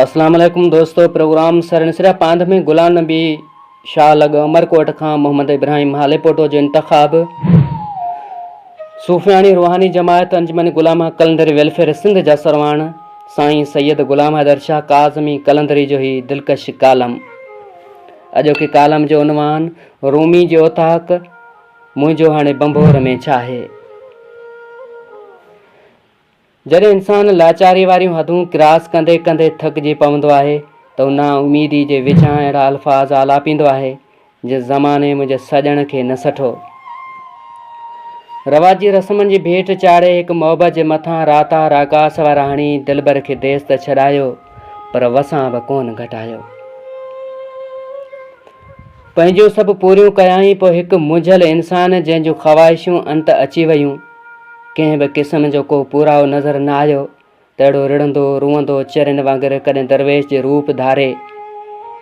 اسلام عليڪم دوستو پروگرام سرن سرا پاند ۾ غلام نبي شاهه لڳ عمرڪوٽ کان محمد ابراهيم هاليپوٽو جو انتخاب صوفياڻي روحاني جماعت انجمن غلام قلندر ويلفيئر سنڌ جا سرواڻ سائين سيد غلام حيدر شاهه ڪاظمي قلندري جو هي دلڪش ڪالم اڄوڪي ڪالم جو عنوان رومي جي اوطاق منهنجو هاڻي ڀنڀور ۾ ڇا آهي؟ جڏهن انسان لاچاري واريون حدون ڪراس ڪندي ڪندي ٿڪجي پوندو آهي ته هو نا اميدي جي وچان اهڙا الفاظ آلاپيندو آهي جي زماني منهنجي سڄڻ کي نه سٺو رواجي رسمن جي ڀيٽ چاڙهي هڪ محبت جي مٿان راتا راڪاس وارا هڻي دلبر کي ديس ته ڇڏايو پر وسان به ڪون گهٽايو پنهنجون سڀ پوريون ڪيائين پوء هڪ منجهيل انسان جنهن جون خواهشون انت اچي ويون، ڪنهن به قسم جو ڪو پورائو نظر نه آيو ته اهڙو رڙندو روئندو چرين وانگر ڪڏهن درويش جي روپ ڌاري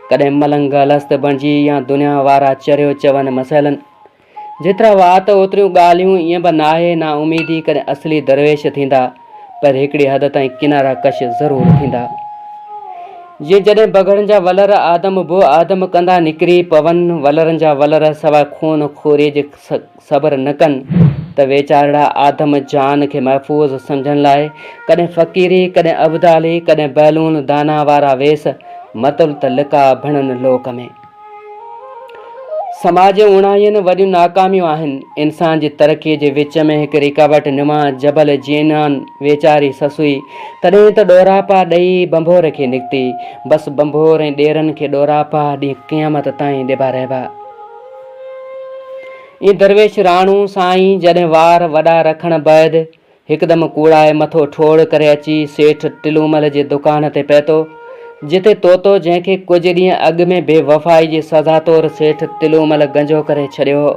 ڪڏهن ملنگ الست بڻجي يا دنيا وارا چريو چون مسئلن جيترا وات اوتريون ڳالهيون ائين به ناهي نا اميدي ڪڏهن اصلي درويش ٿيندا پر هڪڙي حد تائين ڪنارا ڪش ضرور ٿيندا جيئن جڏهن بگهڙن جا ولر آدم بو آدم ڪندا نڪري پون ولرن جا ولر سواء خون خوري جي صبر نه ڪن ته ويچارڙا آدم جان کي محفوظ سمجهڻ لاء ڪڏهن فقيري ڪڏهن ابدالي ڪڏهن بهلون داناء وارا ويس متل ته لقاء ڀڻن لوڪ ۾. سماج جون اوڻايهن وڏيون ناڪاميون آهن، انسان جي ترقيء جي وچ ۾ هڪ رڪاوٽ نما جبل جينان ويچاري سسئي تڏهن ته ڏوراپا ڏئي ڀنڀور کي نڪتي. بس ڀنڀور ۽ ڏيرن کي ڏوراپا ڏينهن قيامت تائين ڏبا رهبا. اي درويش راڻو سائين جڏهن وار وڏا رکڻ بعد هڪدم ڪوڙائي مٿو ٺوڙ ڪري اچي سيٺ ٽلومل جي دڪان تي پهتو، جتي طوطو جنهن کي ڪجهه ڏينهن اڳ ۾ بي وفائي جي سزا طور سيٺ ٽلومل گنجو ڪري ڇڏيو هو.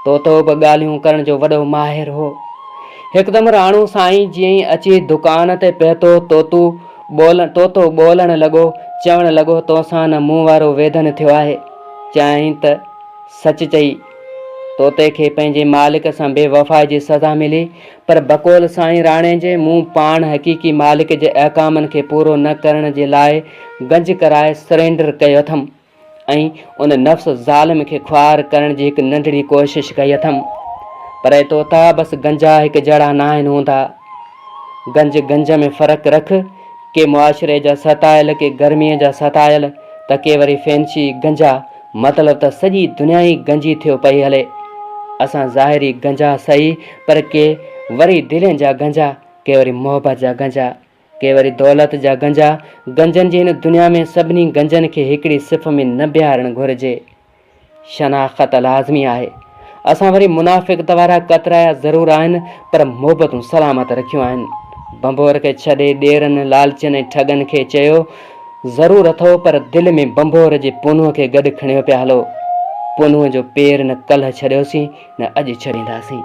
طوطو به ڳالهيون ڪرڻ جو وڏو ماهر هو. هڪدم راڻو سائين جيئن ئي اچي دڪان تي پهتو، طوطو ٻولڻ طوطو ٻولڻ لڳو، چوڻ لڳو، توسان نه مون وارو ويڌن ٿيو آهي. چيائين ته سچ چئي. طوطي کي پنهنجي مالڪ سان بي وفائي جي سزا ملي، پر بقول سائين راڻي جي، مون پاڻ حقيقي مالڪ جي احڪامن کي پورو نه ڪرڻ جي لاء گنج ڪرائي سرينڊر ڪيو اٿم ۽ ان نفس ظالم کي خوار ڪرڻ جي هڪ ننڍڙي ڪوشش ڪئي اٿم. پر اي طوطا بس گنجا هڪ جهڙا ناهن هوندا. گنج گنج ۾ فرق رک، ڪي معاشري جا ستايل، ڪي گرميء جا ستايل ته ڪي وري فينشي گنجا. مطلب ته سڄي دنيا ئي گنجي ٿيو پئي هلي. اسان ظاهري گنجا سهي پر ڪي وري دلين جا گنجا، ڪي وري محبت جا گنجا، ڪي وري دولت جا گنجا. گنجن جي هن دنيا ۾ سڀني گنجن کي هڪڙي صف ۾ نه بيهارڻ گهرجي. شناخت لازمي آهي. اسان وري منافقت وارا ڪترايا ضرور آهن پر محبتون سلامت رکيون آهن. ڀنڀور کي ڇڏي ڏيرن، لالچين ۽ ٺڳن کي چيو ضرور اٿئو پر دل ۾ ڀنڀور جي پونهن کي گڏ کڻيو پيا هلو. پونهن جو پير نه ڪلهه ڇڏيوسين نه اڄ ڇڏينداسين.